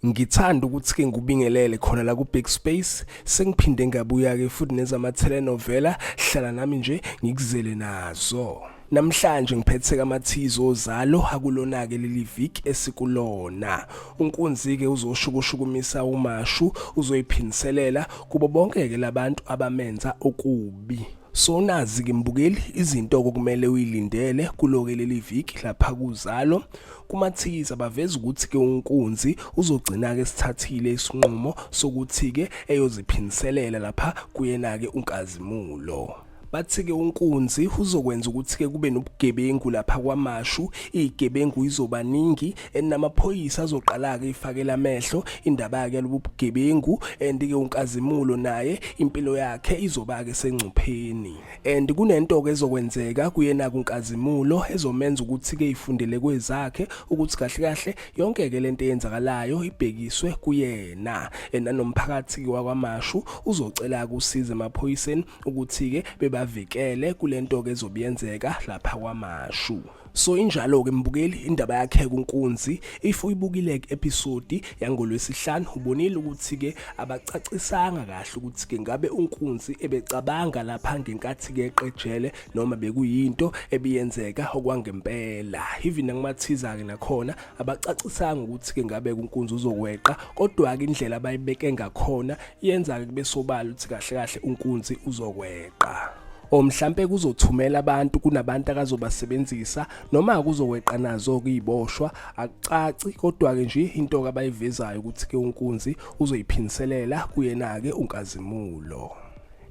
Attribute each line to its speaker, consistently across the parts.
Speaker 1: Ngithanda ukuthi-ke ngikubingelele khona la ku-Big Space. Sengiphinde ngabuya-ke futhi nezama-telenovela. Hlala nami nje ngikuzele nazo. Namhlanje ngiphethe amathizo ozalo akulona-ke leli viki esikulona. UNkunzi-ke uzoshukushukumisa uMashu, uzoyiphindiselela kubo bonke-ke labantu abamenza okubi. So nazi-ke mbukeli izinto okumele uyilindele kulo-ke leli viki lapha kuzalo. kumathikithi abaveza ukuthi-ke unkunzi uzogcina-ke sithathile isinqumo sokuthi-ke eyoziphindiselela lapha kuyena-ke unkazimulo bathi-ke unkunzi uzokwenza ukuthi-ke kube nobugebengu lapha kwamashu iyigebengu izobaningi enamaphoyisa azoqala-ke ifakela amehlo indaba-ke yalobu bugebengu and-ke unkazimulo naye impilo yakhe izoba-ke sengcupheni and kunento ke ezokwenzeka kuyena kunkazimulo ezomenza ukuthi ke ifundele kwezakhe ukuthi kahle kahle yonke ke lento eyenzakalayo ibhekiswe kuyena ena nomphakathi wakwamashu uzocela kusiza emaphoyiseni ukuthi ke bebavikele kulento ke ezobiyenzeka lapha kwamashu So injalo ke mbukeli indaba yakhe kunkunzi if uyibukile ke episode yangolwesihlanu ubonile ukuthi ke abacacisanga kahle ukuthi ke ngabe unkunzi ebecabanga lapha ngenkathi ke eqejele noma bekuyinto ebiyenzeka okwangempela even angimathiza ke nakhona abacacisanga ukuthi ke ngabe kunkunzi uzokweqa kodwa ke indlela abayibeke ngakhona yenza ke besobala ukuthi kahle kahle unkunzi uzokweqa or mhlampe kuzothumela abantu kunabantu akazobasebenzisa noma kuzoweqa nazo kuyiboshwa akucaci kodwa ke nje into abayivezayo ukuthi ke unkunzi uzoyiphindiselela kuyena ke unkazimulo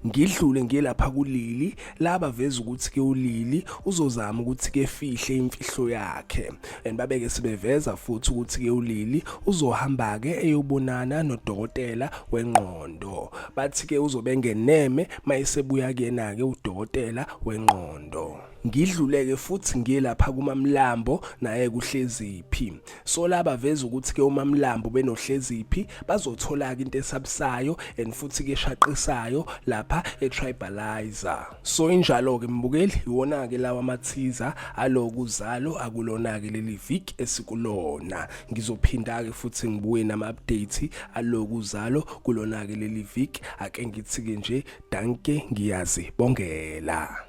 Speaker 1: ngidlule ngiye lapha kulili laba veza ukuthi ke ulili uzozama ukuthi ke fihle imfihlo yakhe and babeke sibeveza futhi ukuthi ke ulili uzohamba ke eyobonana nodokotela wengqondo bathi ke uzobengeneme mayisebuya kuyena ke udokotela wengqondo ngidluleke futhi ngiye lapha kumamlambo naye kuhleziphi so laba veza ukuthi ke umamlambo benohleziphi bazothola ke into esabusayo and futhi ke shaqisayo lapha etribalizer so injalo ke mbukeli iwona ke lawa mathiza aloku zalo akulona ke leli week esikulona ngizophinda ke futhi ngibuye nama update aloku zalo kulona ke leli week ake ngithi ke nje danke ngiyazi bongela